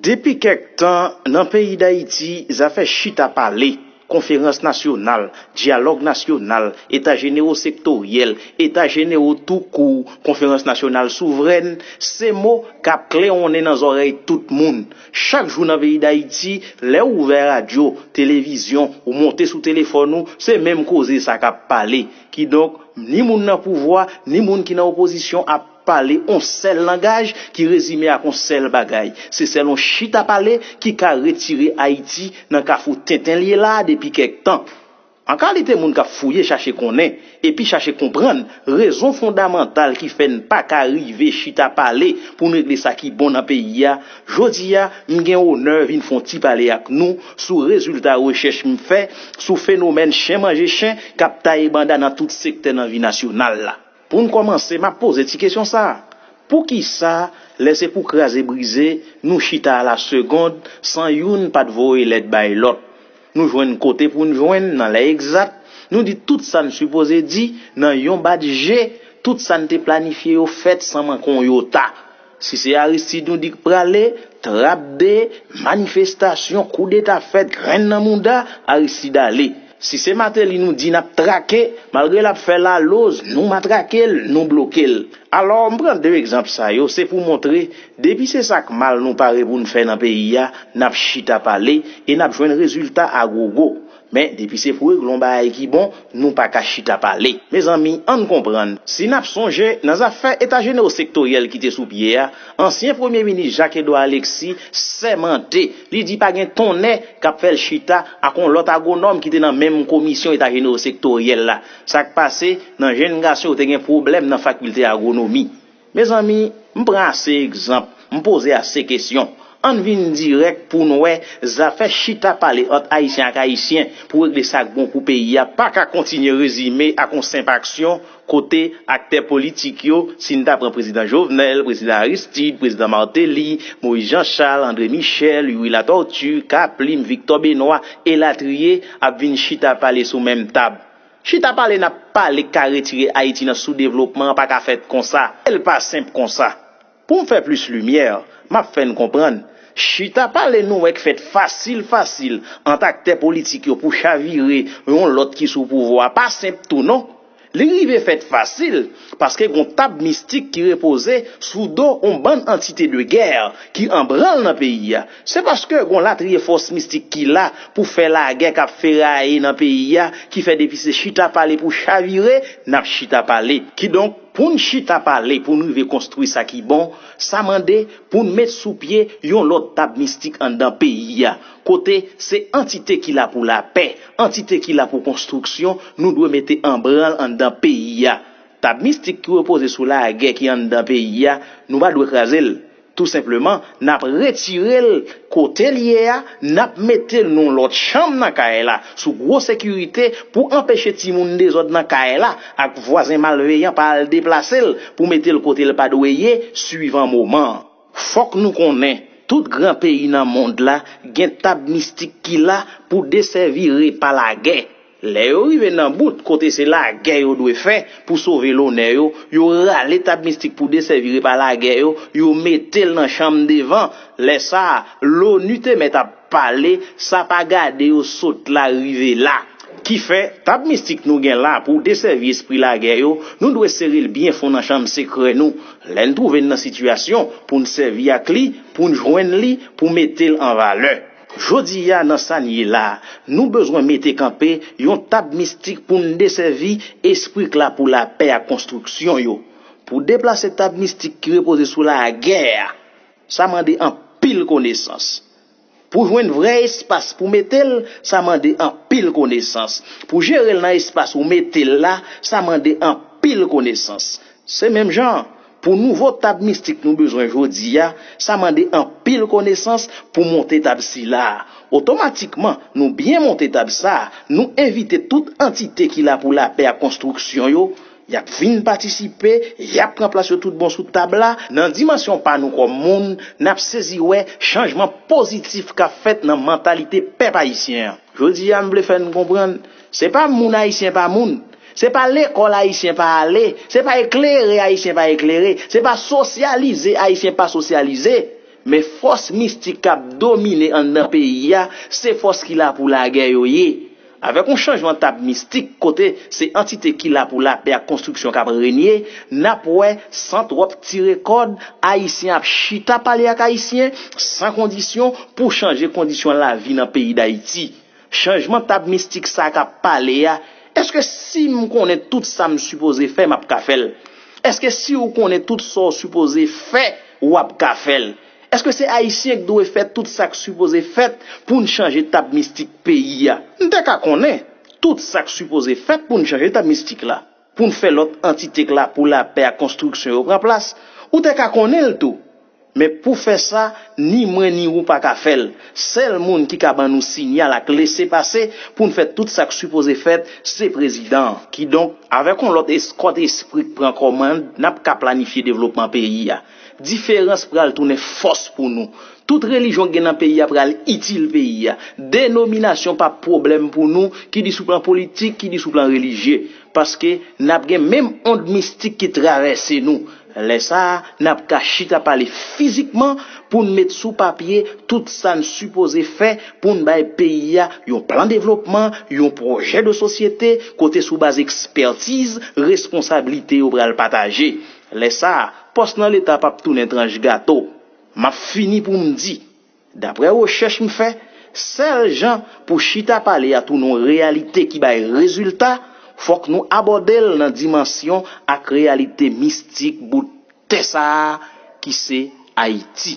Depi kèk tan, nan peyi Dayiti, zafè chita pale, konferans nasyonal, dyalòg nasyonal, eta jenero sektoryèl, eta jenero tou kou, konferans nasyonal souvrèn, se mo k ap klewonnen nan zòrèy tout moun. Chak jou nan peyi Dayiti, lè ou ouvè radyo, televizyon, ou monte sou telefòn ou, se menm koze sa k ap pale. Kidonk, ni moun nan pouvwa, ni moun ki nan opozisyon ap. Pale on sèl langaj ki rezime ak on sèl bagay. Se sèl on chita pale ki ka retire Ayiti nan kafou tenten l ye la a depi kèk tan. An kalite moun k ap fouye chache konnen, epi chache konprann, rezon fondamantal ki fè n pa ka rive chita pale pou n regle sa ki bon nan peyi a, jodi a, m gen onè vin fon ti pale ak nou sou rezilta rechèch m fè sou fenomèn chen manje chen k ap taye banda nan tout sektè nan vi nasyonal la. Pou n kòmanse, m ap poze ti kesyon sa a, Poukisa lè se pou kraze brize nou chita alasegond san youn pa t voye lèt bay lòt? Nou jwenn kote pou n jwenn nan lè egzat, nou di tout sa n sipoze di nan yon bat je, tout sa n te planifye yo fèt san manke yon yota. Si se Aristide nou di k prale, trap de, manifestasyon, koudeta fèt, grenn nan mouda, Aristide ale. Si se Mateli nou di nap trake, malgre lap fè laloz, nou matrake l, nou bloke l. Alò, m pran 2 egzanp sa yo, se pou montre, depi se sa k mal nou pare pou n fè nan peyi a, nap chita pale, e nap jwenn rezilta a gwo gwo. Men depi se pou regle yon bagay ki bon, nou pa ka chita pale. Mezanmi, ann konprann, si n ap sonje, nan zafè Eta jenewo sektoryèl ki te sou pye a, ansyen premye minis Jacques Edouard Alexis sèmante, li di pa gen tonnè k ap fè l chita ak yon lòt agwonòm ki te nan menm komisyon Eta jenewo sektoryèl la. Sa k pase, nan jenn gason yo te gen pwoblèm nan fakilte agwonomi. Mezanmi, m pran ase egzanp, m poze ase kesyon. Ann vin dirèk pou n wè zafè chita pale ant Ayisyen ak Ayisyen pou regle sa k bon pou peyi a pa ka kontinye rezime ak yon senp aksyon kote aktè politik yo, si n ta pran Prezidan Jovenel, Prezidan Aristide, Prezidan Martelly, Moïse Jean Charles, André Michel, Youri Latortue, K-Plim, Victor Benoît, elatriye, ap vin chita pale sou menm tab. Chita pale nap pale k ka retire Ayiti nan sou devlopman an pa ka fèt konsa e l pa senp konsa. Pou m fè plis limyè, m ap fè n konprann, chita pale nou wè k fèt fasil fasil ant aktè politik yo pou chavire yon lòt ki sou pouvwa pa senp tou non. Li rive fèt fasil paske gon tab mistik ki repoze sou do on bann antite de gè ki anbranl nan peyi a Se paske gon latriye fòs mistik ki la pou fè lagè kap feraye nan peyi a ki fè depi se chita pale pou chavire nap chita pale. Kidonk poun chita pale poun rive konstwi sa ki bon, sa mande poun met sou pye yon lòt tab mistik anndan peyi a kote se antite ki la pou lapè, antite ki la pou konstriksyon nou dwe mete anbranl anndan peyi a. Tab mistik ki repoze sou lagè ki anndan peyi a nou pa dwe krazel. Tou senpleman, n ap retire l kote l ye a, n ap mete l nan yon lòt chanm nan kay la, sou gwo sekirite, pou anpeche timoun dezòd nan kay la ak vwazen malveyan pa al deplase l pou mete l kote l pa dwe ye suivan moman an. Fòk nou konnen, tout gran peyi nan mond la gen tab mistik ki la pou desèvi repa lagè. Lè yo rive nan bout kote se lagè yo dwe fè pou sove lonè yo, yo rale tab mistik pou desèvi repa lagè yo, yo mete l nan chanm devan. Lè sa a, LONU te mèt ap pale, sa pa gade yo sot la rive la. Kifè, tab mistik nou gen la pou desèvi espri lagè yo, nou dwe sere l byen fon nan chanm sekrè nou. Lè n twouve n nan sitiyasyon pou n sèvi ak li, pou n jwenn li, pou mete l an valè. Jodi a nan sa n ye la, nou bezwen mete kanpe yon tab mistik pou n desèvi espri k la pou lapè ak konstriksyon yo. Pou deplase tab mistik ki repoze sou lagè a, sa mande anpil konesans. Pou jwenn vrè espas pou mete l, sa mande anpil konesans. Pou jere l nan espas ou mete l la, sa mande anpil konesans. Se menm jan. Pou nouvo tab mistik nou bezwen jodi a, sa mande anpil konesans pou monte tab sila a. Otomatikman, nou byen monte tab sa a, nou envite tout antite ki la pou lapè ak konstriksyon yo, y ap vin patisipe, y ap pran plas yo tout bon sou tab la, nan dimansyon pa nou kòm moun, n ap sezi wè chanjman pozitif k ap fèt nan mantalite pèp ayisyen an. Jodi a, m vle fè n konprann, se pa moun ayisyen pa moun, Se pa lekòl Ayisyen pa ale, se pa eklere Ayisyen pa eklere, se pa sosyalize Ayisyen pa sosyalize, men fòs mistik k ap domine anndan peyi a, se fòs ki la pou lagè yo ye. Avèk yon chanjman tab mistik kote se antite ki la pou lapè ak konstriksyon k ap renye, n ap wè, san twòp tire kòd, Ayisyen ap chita pale ak Ayisyen, san kondisyon, pou chanje kondisyon lavi nan peyi Dayiti. Chanjman tab mistik sa kap pale a, eske sim konnen tout sam sipoze fè map ka fèl? Eske siw konnen tout sa w sipoze fè wap ka fèl? Eske se ayisyen k dwe fè tout sak sipoze fèt poun chanje tab mistik peyi a? M te ka konnen tout sak sipoze fèt poun chanje tab mistik la. pou n fè lòt antite k la pou lapè ak konstriksyon yo pran plas, ou te ka konnen l tou. Men pou fè sa, ni mwen ni ou pa ka fè l. Sèl moun ki ka ban nou sinyal ak lese pase pou n fè tout sa k sipoze fèt, se Prezidan an. Kidonk, avèk yon lòt eskòt espri k pran kòmand, n ap ka planifye devlopman peyi a. Diferans pral tounen fòs pou nou. Tout relijyon gen nan peyi a pral itil peyi a. Denominasyon pap pwoblèm pou nou, ki di sou plan politik, ki di sou plan relijye. Paske nap gen menm ond mistik ki travèse nou. Lè sa a, nap ka chita pale fizikman pou n met sou papye tout sa n sipoze fè pou n bay peyi a yon plan devlopman, yon pwojè de sosyete kote sou baz ekspètiz, responsablite yo pral pataje. Lè sa a, pòs nan Leta p ap tounen tranch gato. M ap fini pou m di, daprè rechèch m fè, sèl jan pou chita pale a tounen yon reyalite ki bay rezilta, fòk nou abòde l nan dimansyon ak reyalite mistik bout tè sa a ki se Ayiti.